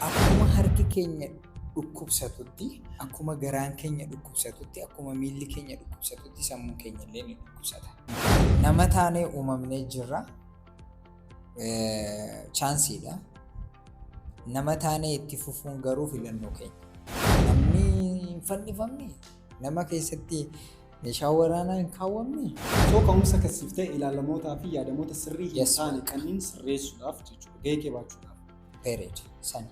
Akkuma harki keenya dhukkubsatutti, akkuma garaan keenya dhukkubsatutti, akkuma miilli keenya dhukkubsatutti sammuun keenya illee ni dhukkubsata. Nama taanee uumamnee jirra. Chaansiidha. Nama taanee itti fufuun garuu filannoo keenya. Namni hin fannifamne, nama keessatti meeshaa waraanaa hin kaawwamne. Osoo ka'umsa kasiif ta'e ilaalamootaa fi yaadamoota sirrii hin Yes. taane kanneen sirreessuudhaaf jechuudha. Gahee kee baachuudhaaf. period sani.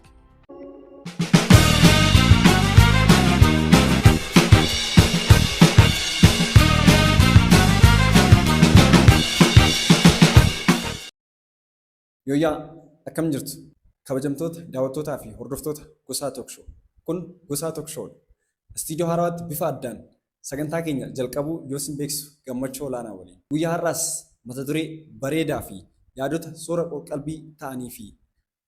Yooyyaa akkam jirtu kabajamtoota daawwattootaa fi hordoftoota Gosaa Talk Show. Kun Gosaa Talk Show dha. Istiidiyoo haaraatti bifa addaan Sagantaa keenya jalqabuu yoo isin beeksisu gammachuu olaanaa waliin. Guyyaa har'aas mata duree bareedaa fi yaadota soora qor-qalbii ta'anii fi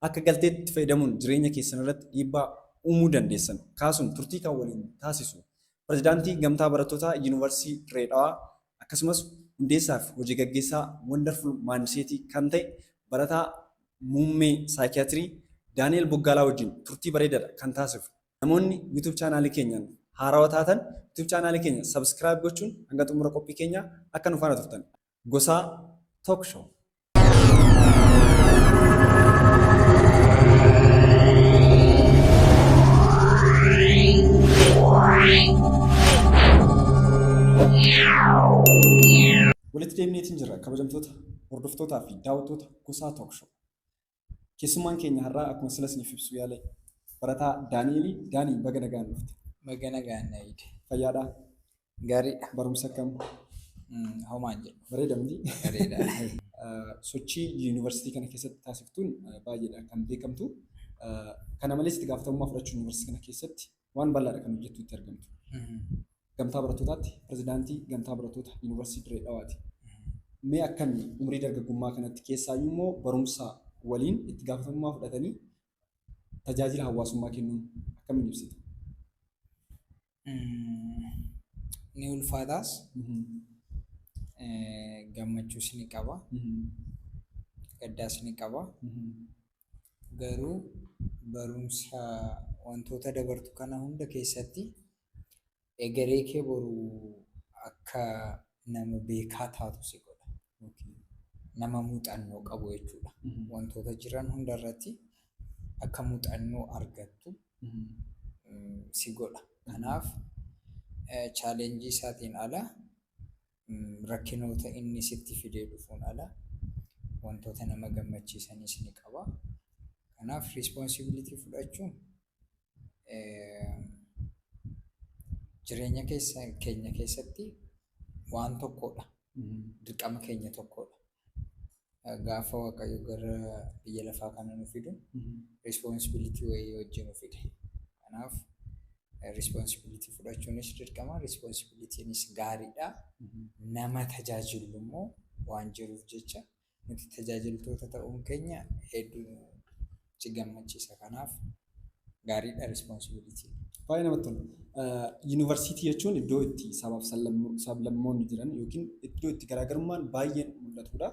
akka galteetti itti fayyadamuun jireenya keessan irratti dhiibbaa uumuu dandeessan kaasuun turtii kan waliin taasisu Pirezidaantii Gamtaa Barattootaa Yuunivarsiitii Dirree Dhawaa akkasumas hundeessaa fi hojii gaggeessaa Wonderful Mindset kan ta'e barataa muummee Saaykiyaatirii Daani'eel Boggaalaa wajjin turtii bareedaadha kan taasifnu. Namoonni YouTube channel keenyaan haarawa taatan YouTube channel keenya subscribe gochuun hanga xumura qophii keenyaa akka nu faana turtan. Gosaa Talk Show. Walitti deemneetiin jirra kabajamtoota hordoftootaa fi daawwattoota Gosaa Talk Show. Keessummaan keenya har'aa akkuma sila isiniif ibsuu yaale barataa Daani'eeli. Daanii baga nagaan dhufte. Baga nagaan na eegde. Fayyaadhaa? Gaariidha. Barumsa akkam? Mm, Homaa hin jedhu. Bareeda miti? Bareeda. Eh, Sochii yuunivarsiitii kana keessatti taasiftuun eh, baay'eedha kan beekamtu. Eh, Kana malees itti gaafatamummaa fudhachuun yuunivarsiitii kana keessatti waan bal'aadha kan hojjettu itti argamtu. Gamtaa barattootaatti pirezidaantii gamtaa barattoota yuunivarsiitii Dirree Dhawaati. Mee akkami umrii dargaggummaa kanatti keessaayyuu immoo barumsa waliin itti gaafatamummaa fudhatanii tajaajila hawaasummaa kennuun akkamiin ibsita? Ni ulfaataas gammachuus ni qaba gaddaas ni qaba. garuu barumsa wantoota dabartu kana hunda keessatti egeree kee boru akka nama beekaa taatu si godha yookiin nama muuxannoo qabu jechuudha. Wantoota jiran hunda irratti akka muuxannoo argattu mm, si godha. Kanaaf chaalenjii isaatiin ala rakkinoota inni sitti fidee dhufuun ala wantoota nama gammachiisanis ni qaba. Kanaaf riispoonsibilitii fudhachuun jireenya keenya keessatti waan tokkodha. Dirqama keenya tokkodha. Gaafa Waaqayyo gara biyya lafaa kana nu fidu responsibility wayii hojii nu fide. Kanaaf responsibility fudhachuunis dirqama, responsibilitynis gaariidha. Nama tajaajillu immoo waan jiruuf jecha nuti tajaajiltoota ta'uun keenya hedduu nutti gammachiisa. Kanaaf Gaariidha responsibility. Baay'ee namatti tola. Yuunivarsiitii jechuun iddoo itti sabaaf sablammoonni jiran yookiin iddoo itti garaagarummaan baay'een mul'atudha.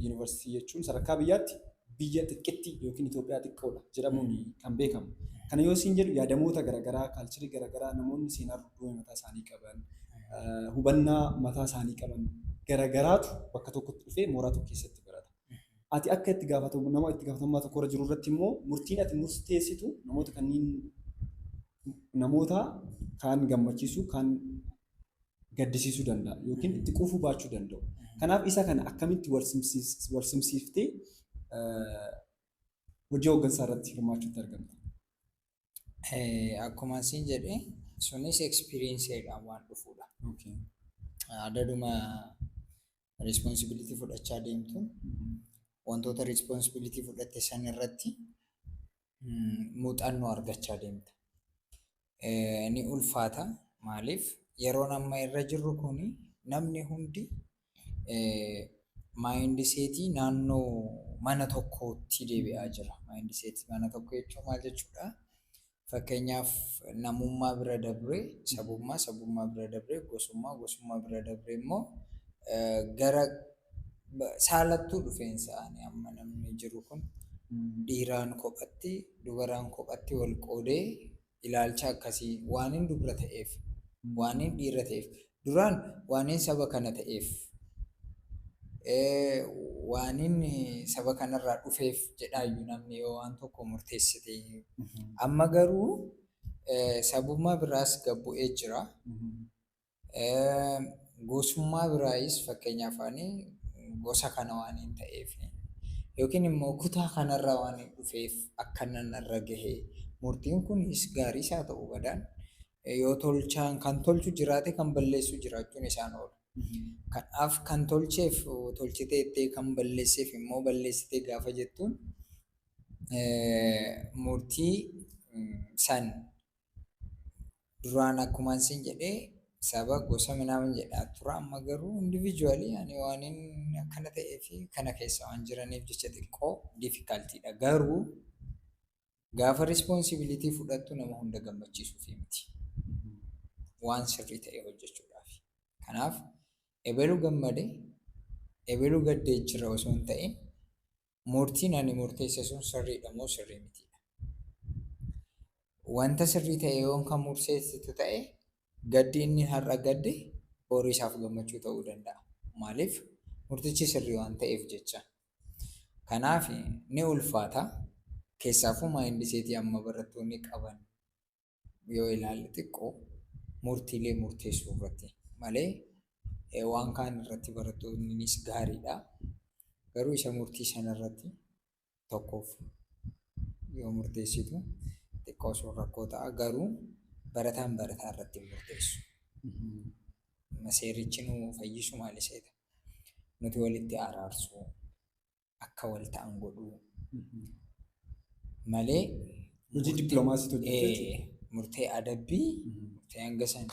Yuunivarsiitii jechuun sadarkaa biyyaatti biyya xiqqetti yookiin Itoophiyaa xiqqoodha jedhamuun kan beekamu. Kana yoo siin jedhu yaadamoota garaagaraa, kaalcharii garaagaraa namoonni seenaa dudduubee mataa isaanii qaban, hubannaa mataa isaanii qaban garaagaraatu bakka tokkotti dhufee mooraa tokko keessatti barata. Ati akka itti gaafatamu nama itti gaafatamummaa tokko irra jiru irratti immoo murtiin ati murteessitu namoota kanneen namoota kaan gammachiisuu kaan gaddisiisuu danda'a yookiin itti quufuu baachuu danda'u. Kanaaf isa kana akkamitti wal simsiis- wal simsiiftee eh, hojii hooggansaa irratti hirmaachuutti argamta. Eh, Akkuma siin jedhe sunis experienceedhaan waan dhufuudha. Okay. Adaduma Riispoonsibilitii fudhachaa deemtuun wantoota riispoonsibilitii fudhatte san irratti muuxannoo argachaa deemta. Ni ulfaata maaliif yeroon amma irra jirru kun namni hundi maayindiseetii naannoo mana tokkootti deebi'aa jira. Maayindiseetii mana tokko jechuun maal jechuudha? Fakkeenyaaf, namummaa bira dabree sabummaa, sabummaa bira dabree gosummaa, gosummaa bira dabree immoo gara saalattuu dhufeensa ani amma namni jiru kun dhiiraan kophatti, dubaraan kophatti wal qoodee ilaalcha akkasii waanin dubra ta'eef, waanin dhiira ta'eef Duraan waanin saba kana ta'eef, waanin saba kanarraa dhufeef jedhaayyu namni yoo waan tokko murteesse ta'e. Amma garuu sabummaa biraas gad bu'ee jira. Gosummaa biraayis fakkeenyaaf ani gosa kana waanin ta'eef yookiin immoo kutaa kanarraa waanin dhufeef akkanan irra gahe. Murtiin kunis gaariis haa ta'u badaan Yoo tolchaan kan tolchu jiraate kan balleessu jiraachuun isaa hin oolu. Kanaaf kan tolcheef tolchite jettee kan balleesseef immoo balleessite gaafa jettuun murtii san duraan akkumaan sin jedhee saba gosa minaamin jedhaa tura amma garuu individually ani waanin akkana ta'ee fi kana keessa waan jiraniif jecha xiqqoo difficultiidha garuu Gaafa responsibility fudhattu nama hunda gammachiisuuf miti. Waan sirrii ta'e hojjechuudhaaf. Kanaaf ebelu gammade ebelu gaddee jira osoo hin ta'in murtiin ani murteesse sun sirriidha moo sirrii mitiidha. Wanta sirrii ta'e yoon kan murteessitu ta'e gaddi inni har'a gadde boru isaaf gammachuu ta'uu danda'a. Maaliif murtichi sirrii waan ta'eef jecha. Kanaaf ni ulfaata. Keessaafuu maayindiseetii amma barattoonni qaban yoo ilaalle xiqqoo murtiilee murteessuu irratti malee eh, waan kaan irratti barattoonnis gaariidha. Garuu isa murtii sana irratti tokkoof yoo murteessitu xiqqoo sun rakkoo ta'a. Garuu barataan barataa irratti hin murteessu. Seerichi nu fayyisu maal iseeta? Nuti walitti araarsuu, akka wal ta'an godhuu malee Hojii dippiloomaasiitu hojjechuu jechuudha. ee, murtee adabbii murtee hanga san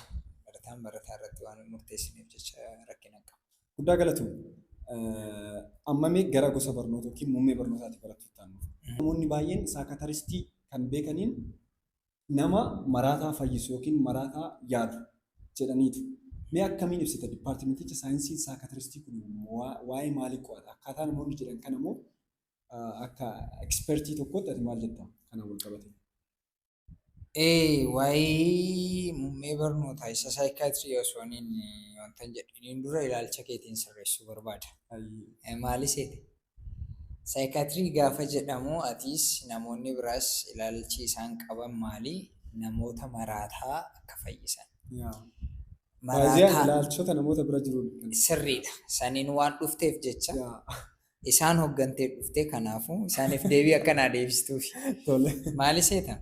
barataan barataa irratti waan hin murteessineef jecha rakkina hin qabu. Guddaa galatoomi. Eh, Amma mee gara gosa barnoota yookiin muummee barnootaati barattoota taanu. Namoonni baay'een saakataristii kan beekaniin Nama maraataa fayyisu ykn maraataa yaalu jedhaniitu. Mee akkamiin ibsita? Dippaartimenticha saayinsiin saakatiristii kun waa'ee maalii qo'ata? Akkaataa namoonni jedhan kana moo akka ekspertii tokkootti ati maal jetta kanaan wal qabate? A. Waa'ee muummee barnootaa isa saayikaatirii osoo hin wantan jedhiniin dura ilaalcha keetiin sirreessuu barbaada. Maali seete? Saayikaatirii gaafa jedhamu atiis namoonni biraas ilaalchi isaan qaban maali? Namoota maraataa akka fayyisan. Baay'een ilaalchota namoota bira jiruun kan. Sirriidha. Saniin waan dhufteef jecha isaan hoggantee dhufte kanaafuu isaaniif deebii akka naa deebistuufi. Tole. Maali seeta?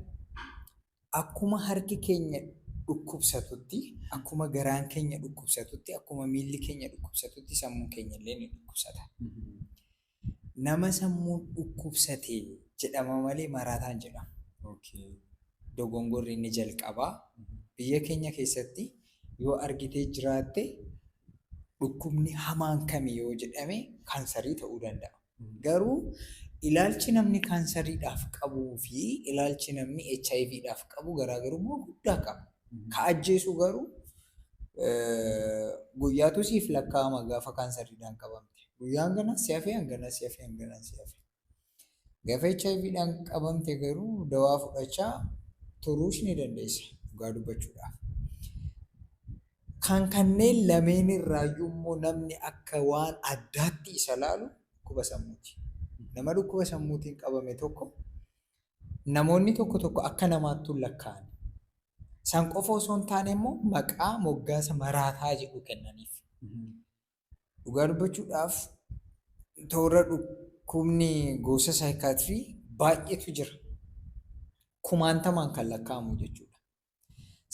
Akkuma harki keenya dhukkubsatutti, akkuma garaan keenya dhukkubsatutti, akkuma miilli keenya dhukkubsatutti sammuun keenya illee ni dhukkubsata. Nama sammuun dhukkubsate jedhama malee maraataa hin jedhamu. Okay. Dogongorri inni jalqabaa biyya keenya keessatti yoo argitee jiraatte dhukkubni hamaan kami yoo jedhame kaansarii ta'uu danda'a. Garuu ilaalchi namni kaansariidhaaf qabuu fi ilaalchi namni HIVdhaaf qabu garaagarummaa guddaa qaba. Ka ajjeesu garuu eh, guyyaatu siif lakkaa'ama gaafa kaansariidhaan qabamte. Guyyaa hangana si hafee hangana si hafee hangana si hafee. Gaafa HIVdhaan qabamte garuu dawaa fudhachaa turuus ni dandeessa dhugaa dubbachuudhaaf. Kan kanneen lameenirraayyuu immoo namni akka waan addaatti isa laalu dhukkuba sammuuti. Nama dhukkuba sammuutiin qabame tokko namoonni tokko tokko akka namaattuu lakkaa'an. San qofa osoo hin taane immoo maqaa moggaasa maraataa jedhu kennaniif. Dhugaa dubbachuudhaaf toora dhukkubni gosa saayikaatirii baay'eetu jira. Kumaantamaan kan lakkaa'amu jechuudha.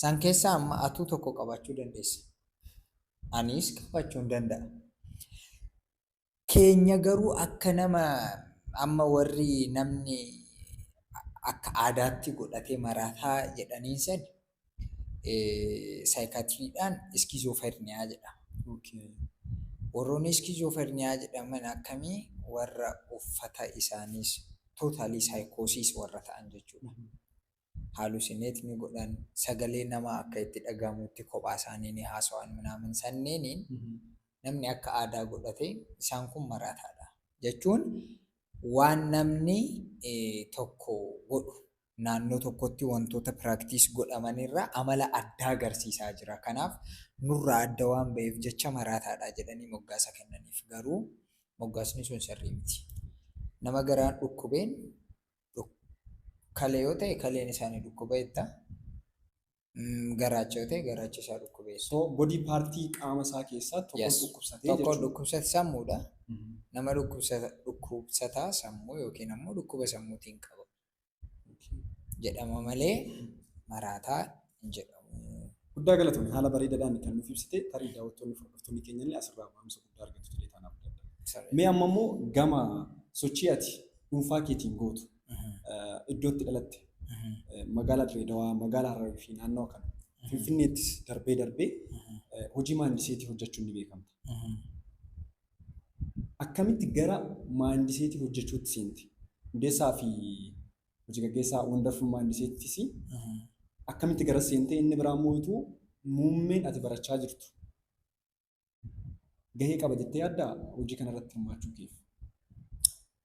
San keessaa amma atuu tokko qabaachuu dandeessa. Anis qabaachuun danda'a. Keenya garuu akka nama amma warri namni akka aadaatti godhatee maraataa jedhaniin san saayikaatiriidhaan iskiizooferniyaa jedhama. Warroonni iskiizooferniyaa jedhaman akkamii warra uffata isaaniis tootaalii saayikoosiis warra ta'an jechuudha. halusinate ni godhan, sagalee namaa akka itti dhagahamutti kophaa isaanii ni haasawan minaamin sanneeniin namni akka aadaa godhate isaan kun maraataa dha. Jechuun waan namni tokko godhu naannoo tokkotti wantoota practice godhaman irraa amala addaa agarsiisaa jira. Kanaaf nurraa adda waan ba'eef jecha maraataa dha jedhanii moggaasa kennaniif. Garuu moggaasni sun sirrii miti. Nama garaan dhukkubeen Dhukkale yoo ta'e kaleen isaanii dhukkuba jetta. Mm, Garaacha yoo ta'e garaacha isaa dhukkuba jetta. So body partii qaama isaa keessaa tokko Yes. dhukkubsatee Tokko jechuudha. dhukkubsata sammuudha. Mhm. Nama dhukkubsata dhukkubsataa sammuu yookiin ammoo dhukkuba sammuutiin qaba jedhama malee maraataa hin jedhamu. Guddaa galatomi haala bareedadhaan kan nuuf ibsite tarii daawwattoonni fi hordoftoonni keenya illee asirraa barumsa guddaa argatu jedhee taan abdadha. Sirrii. Mee amma immoo gama sochii ati dhuunfaa keetiin gootu iddoo itti dhalatte eh, magaalaa Direedawaa, magaalaa Hararii fi naannawa kana Finfinneettis darbee darbee eh, hojii maandiseetii hojjechuun ni beekamta. Akkamitti gara maandiseetii hojjechuutti seente? Hundeessaa fi hojii gaggeessaa Wonderful Minds ttis akkamitti gara seentee inni biraa immoo utuu muummeen ati barachaa jirtu gahee qaba jettee yaaddaa hojii kana irratti hirmaachuu keef.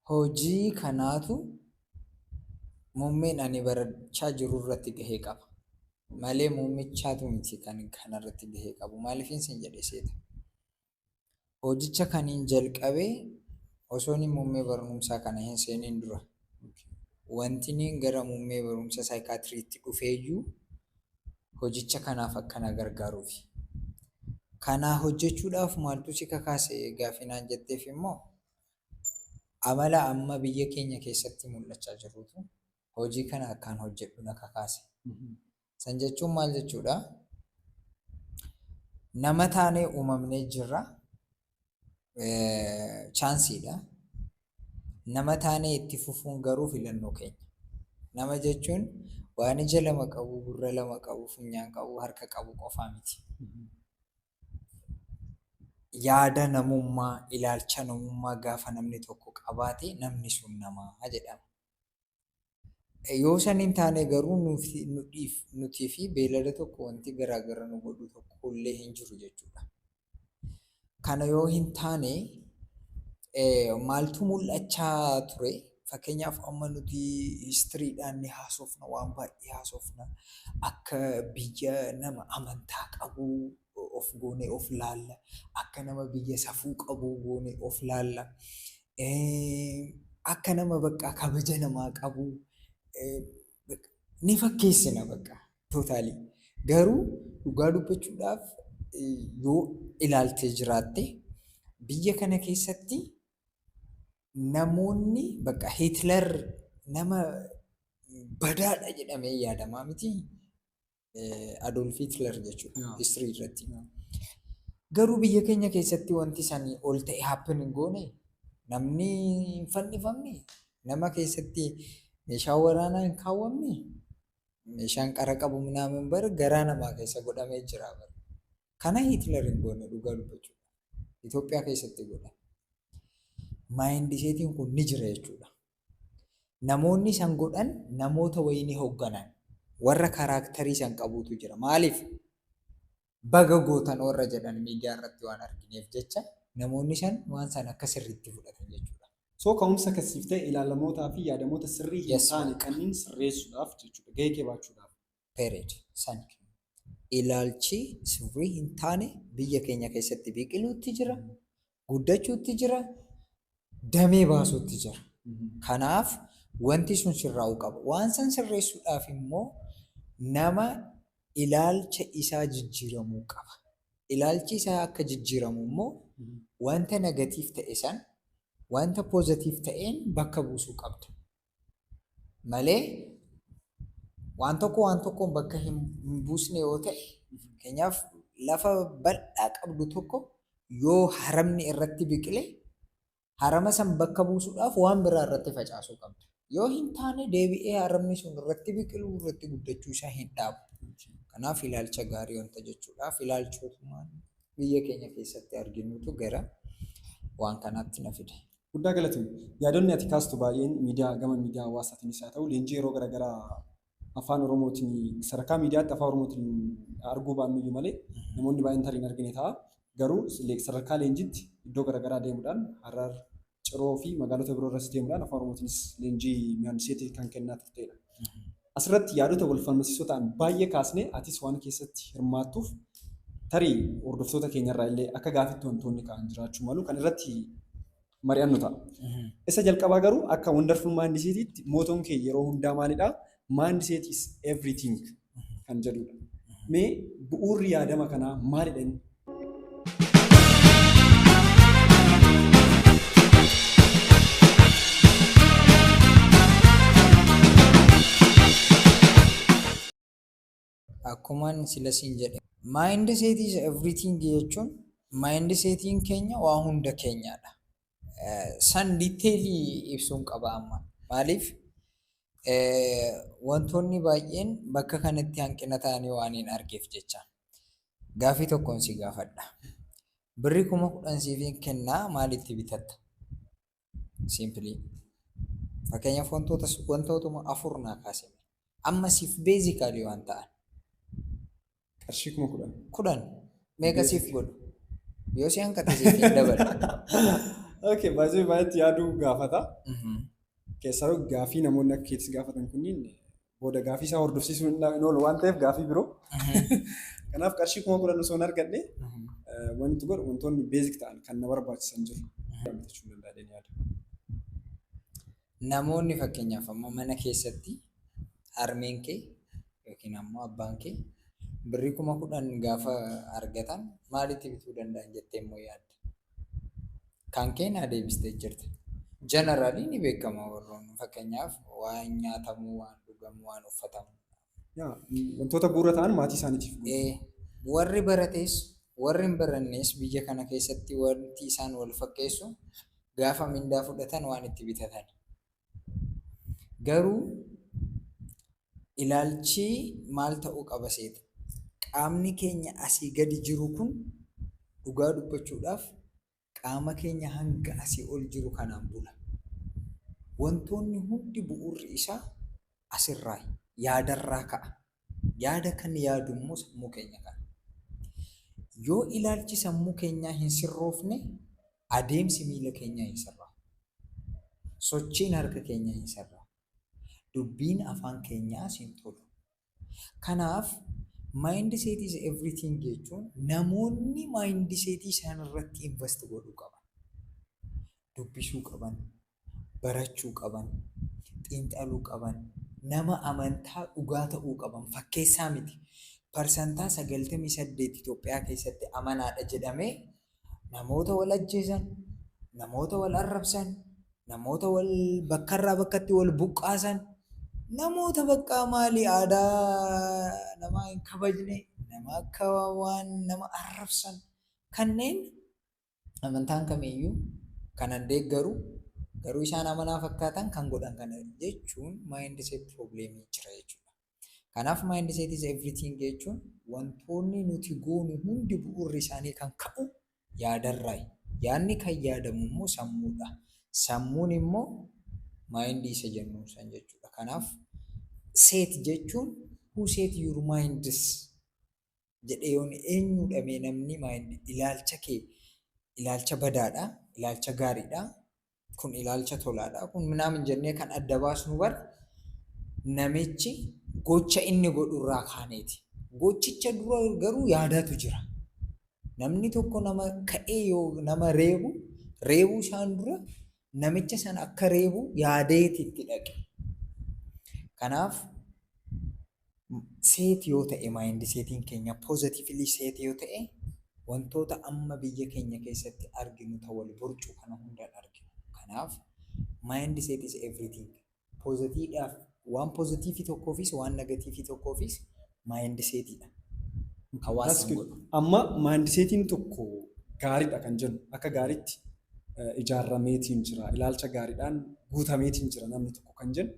Hojii kanaatu muummeen ani barachaa jiru irratti gahee qaba. Malee muummichaatu miti kan kana irratti gahee qabu. Maaliifin sin jedhe seeta. Hojicha kanin jalqabe osooni muummee barumsaa kana hin seenin dura. Wantiniin gara muummee barumsa saayikaatiriitti dhufeeyyuu hojicha kanaaf akka na gargaaruufi. Kanaa hojjechuudhaaf maaltu si kakaase gaafinaan jetteef immoo amala amma biyya keenya keessatti mul'achaa jirutu hojii kana akkaan hojjedhu na kakaase. San jechuun maal jechuudha? Nama taanee uumamnee jirra. Chaansiidha. Nama taanee itti fufuun garuu filannoo keenya. Nama jechuun waan ija lama qabu, gurra lama qabu, funyaan qabu, harka qabu qofaa miti. Yaada namummaa, ilaalcha namummaa gaafa namni tokko qabaate namni sun namaa jedhama. Yoo san hin taane garuu nutii fi beelada tokko wanti garaagara nu godhu tokko illee hin jiru jechuudha. Kana yoo hin taane maaltu mul'achaa ture? Fakkeenyaaf amma nuti histiriidhaan ni haasofna, waan baay'ee haasofna. Akka biyya nama amantaa qabu, of goonee of laalla. Akka nama biyya safuu qabuu goonee of laalla. Akka nama baqqaa kabaja namaa qabuu ni fakkeessina baqqaa tootaalii. Garuu dhugaa dubbachuudhaaf yoo ilaaltee jiraatte biyya kana keessatti namoonni bakka Hitler nama badaadha jedhamee yaadamaa miti. Adolf Hitler jechuudha Yeah. history irratti. Yeah. Garuu biyya keenya keessatti wanti sanii ol ta'e happen hin goone namni hin fannifamne nama keessatti meeshaa waraanaa hin kaawwamne meeshaan qara qabu minaamin bara garaa namaa keessa godhamee jira bara. Kana Hitler hin goone dhugaa dubbachuudha. Itoophiyaa keessatti godha. Maayindiseetiin kun ni jira jechuudha. Namoonni san godhan namoota wayii ni hogganan. Warra karaaktarii san qabuutu jira. Maaliif? Baga gootan warra jedhan miidiyaa irratti waan argineef jecha namoonni san waan san akka sirriitti fudhatan jechuudha. So ka'umsa kan siif ta'e ilaalamootaa fi yaadamoota sirrii hin Yes, taane ma'am. kanneen sirreessuudhaaf jechuudha. Gahee kee baachuudhaaf. period, san ilaalchi sirrii hin taane biyya keenya keessatti biqiluutti jira, guddachuutti jira, damee baasuutti jira. Kanaaf wanti sun sirraa'uu qaba. Waan san sirreessuudhaaf immoo nama ilaalcha isaa jijjiiramuu qaba. Ilaalchi isaa akka jijjiiramu immoo wanta negatiif ta'e san wanta pozatiif ta'een bakka buusuu qabda. malee waan tokko waan tokkoon bakka hin buusne yoo ta'e fakkeenyaaf lafa bal'aa qabdu tokko yoo haramni irratti biqile harama san bakka buusuudhaaf waan biraa irratti facaasuu qabda. Yoo hin taane deebi'ee haramni sun irratti biqiluu irratti guddachuu isaa hin dhaabu. Kanaaf ilaalcha gaarii wanta jechuudhaaf ilaalchootumaan biyya keenya keessatti arginutu gara waan kanaatti na fide. Guddaa galatoomi. Yaadonni ati kaastu baay'een miidiyaa gama miidiyaa hawaasaatiinis haa ta'u leenjii yeroo garaagaraa afaan oromootiin sadarkaa miidiyaatti afaan oromootiin arguu baannuyyuu malee namoonni baay'een tarii hin argine ta'a. Garuu le- sadarkaa leenjiitti iddoo garaagaraa deemuudhaan Harar, Ciroo fi magaalota biroo irras deemuudhaan afaan oromootiinis leenjii mihaandiseetii kan kennaa turteedha. Asirratti yaadota wal falmasiisoo ta'an baay'ee kaasnee atis waan keessatti hirmaattuuf tarii hordoftoota keenyarraa illee akka gaafitti wantoonni ka'an jiraachuu malu kan irratti mari'annu ta'a. Isa jalqabaa garuu akka wonderful maandiseetiitti mootoon kee yeroo hundaa maalidha? Maandiseet is everything kan jedhudha. Mee bu'uurri yaadama kanaa maalidha inni? akkuman sila siin jedhe mind set is everything jechuun mind setiin keenya waa hunda keenyaadha. Eh, San diteelii ibsuun qaba amma maaliif eh, wantoonni baay'een bakka kanatti hanqina ta'anii waan hin argeef jecha. Gaaffii tokkon si gaafadha. Birri kuma kudhan siifin kenna maal itti bitatta? Simply. Fakkeenyaaf wantoota wantootuma afur naa kaasime. Amma siif beezikaalii waan ta'an. Qarshii kuma kudhan. Kudhan meeqa siif godhu? Yoo si hanqate siif hin dabalu. Okay, baay'ee baay'eetti yaaduu gaafata. Keessaa gaafii namoonni akka keetis gaafatan kunniin booda gaafii isaa hordofsiisuu hin hin oolu waan ta'eef gaafii biroo. Kanaaf qarshii kuma kudhan osoo hin argadhe eh, wanti itti godhu wantoonni beezik ta'an kan na barbaachisan jiru. Bitachuu hin danda'adheen yaada. Namoonni fakkeenyaaf amma mana keessatti harmeen kee yookiin ammoo abbaan kee birrii kuma kudhan gaafa argatan maalitti bituu danda'an jettee immoo yaadda? Kan kee naa deebistee jirta. Generally ni beekama warroonni fakkeenyaaf waan nyaatamu, waan dhugamu, waan uffatamu. Yaa, wantoota bu'uura ta'an maatii isaaniitiif guutu. Eh, warri barates warri hin barannes biyya kana keessatti wanti isaan wal fakkeessu gaafa mindaa fudhatan waan itti bitatan. Garuu ilaalchi maal ta'uu qaba seeta? Qaamni keenya asii gadi jiru kun dhugaa dubbachuudhaaf qaama keenya hanga asii ol jiru kanaan bula. Wantoonni hundi bu'uurri isaa asirraa yaadarraa ka'a. Yaada kan yaadu immoo sammuu keenya kana. Yoo ilaalchi sammuu keenyaa hin sirroofne adeemsi miila keenyaa hin sirraa'u. Sochiin harka keenyaa hin sirraa'u. Dubbiin afaan keenyaas hin tolu. Kanaaf mindset is everything jechuun namoonni mindset isaan irratti invest godhuu qaban. Dubbisuu qaban, barachuu qaban, xiinxaluu qaban, nama amantaa dhugaa ta'uu qaban, fakkeessaa miti. Parsantaa 98 Itoophiyaa keessatti amanaadha jedhamee namoota wal ajjeesan, namoota wal arrabsan, namoota wal bakkarraa bakkatti wal buqqaasan, namoota baqqaa maali aadaa namaa hin kabajne, nama akka waan nama arrabsan kanneen amantaan kamiyyuu kanan deeggaru garuu isaan amanaa fakkaatan kan godhan kana jechuun mindset problem jira jechuudha. Kanaaf mindset is everything jechuun wantoonni nuti goonu hundi bu'uurri isaanii kan ka'u yaadarraayi. Yaadni kan yaadamu immoo sammuudha. Sammuun immoo maayindii isa jennu san jechuudha. Kanaaf seet jechuun who set your minds jedhee yoon eenyuudha mee namni mind ilaalcha kee ilaalcha badaadha ilaalcha gaariidha kun ilaalcha tolaadha kun minaamin jennee kan adda baasnu bar namichi gocha inni godhurraa kaaneeti gochicha dura garuu yaadaatu jira namni tokko nama ka'ee yoo nama reebu reebuu isaan dura namicha sana akka reebu yaadeeti itti dhaqe kanaaf Seeti yoo ta'e maayindi seetiin keenya poozatifilii seeti yoo ta'e wantoota amma biyya keenya keessatti arginu ta wal borcuu kana hundaan arginu. Kanaaf maayindi seet is everything. Poozatiidhaaf waan poozatiifii tokkoofis waan negatiifii tokkoofis maayindi seetiidha. Hawaasni hin godhu. Amma maayindi seetiin tokko gaariidha kan jennu akka gaariitti ijaarameetiin jira ilaalcha gaariidhaan guutameetiin jira namni tokko kan jennu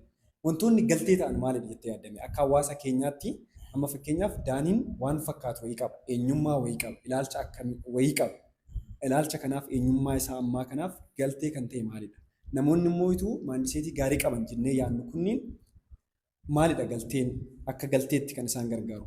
Wantoonni galtee ta'an maalidha jettee yaadda? Akka hawaasa keenyaatti amma fakkeenyaaf Daaniin waan fakkaatu wayii qaba, eenyummaa wayii qaba, ilaalcha akkamii wayii qaba. Ilaalcha kanaaf eenyummaa isaa ammaa kanaaf galtee kan ta'e maalidha? Namoonni immoo ituu maandiseetii gaarii qaban jennee yaadnu kunniin maalidha galteen akka galteetti kan isaan gargaaru?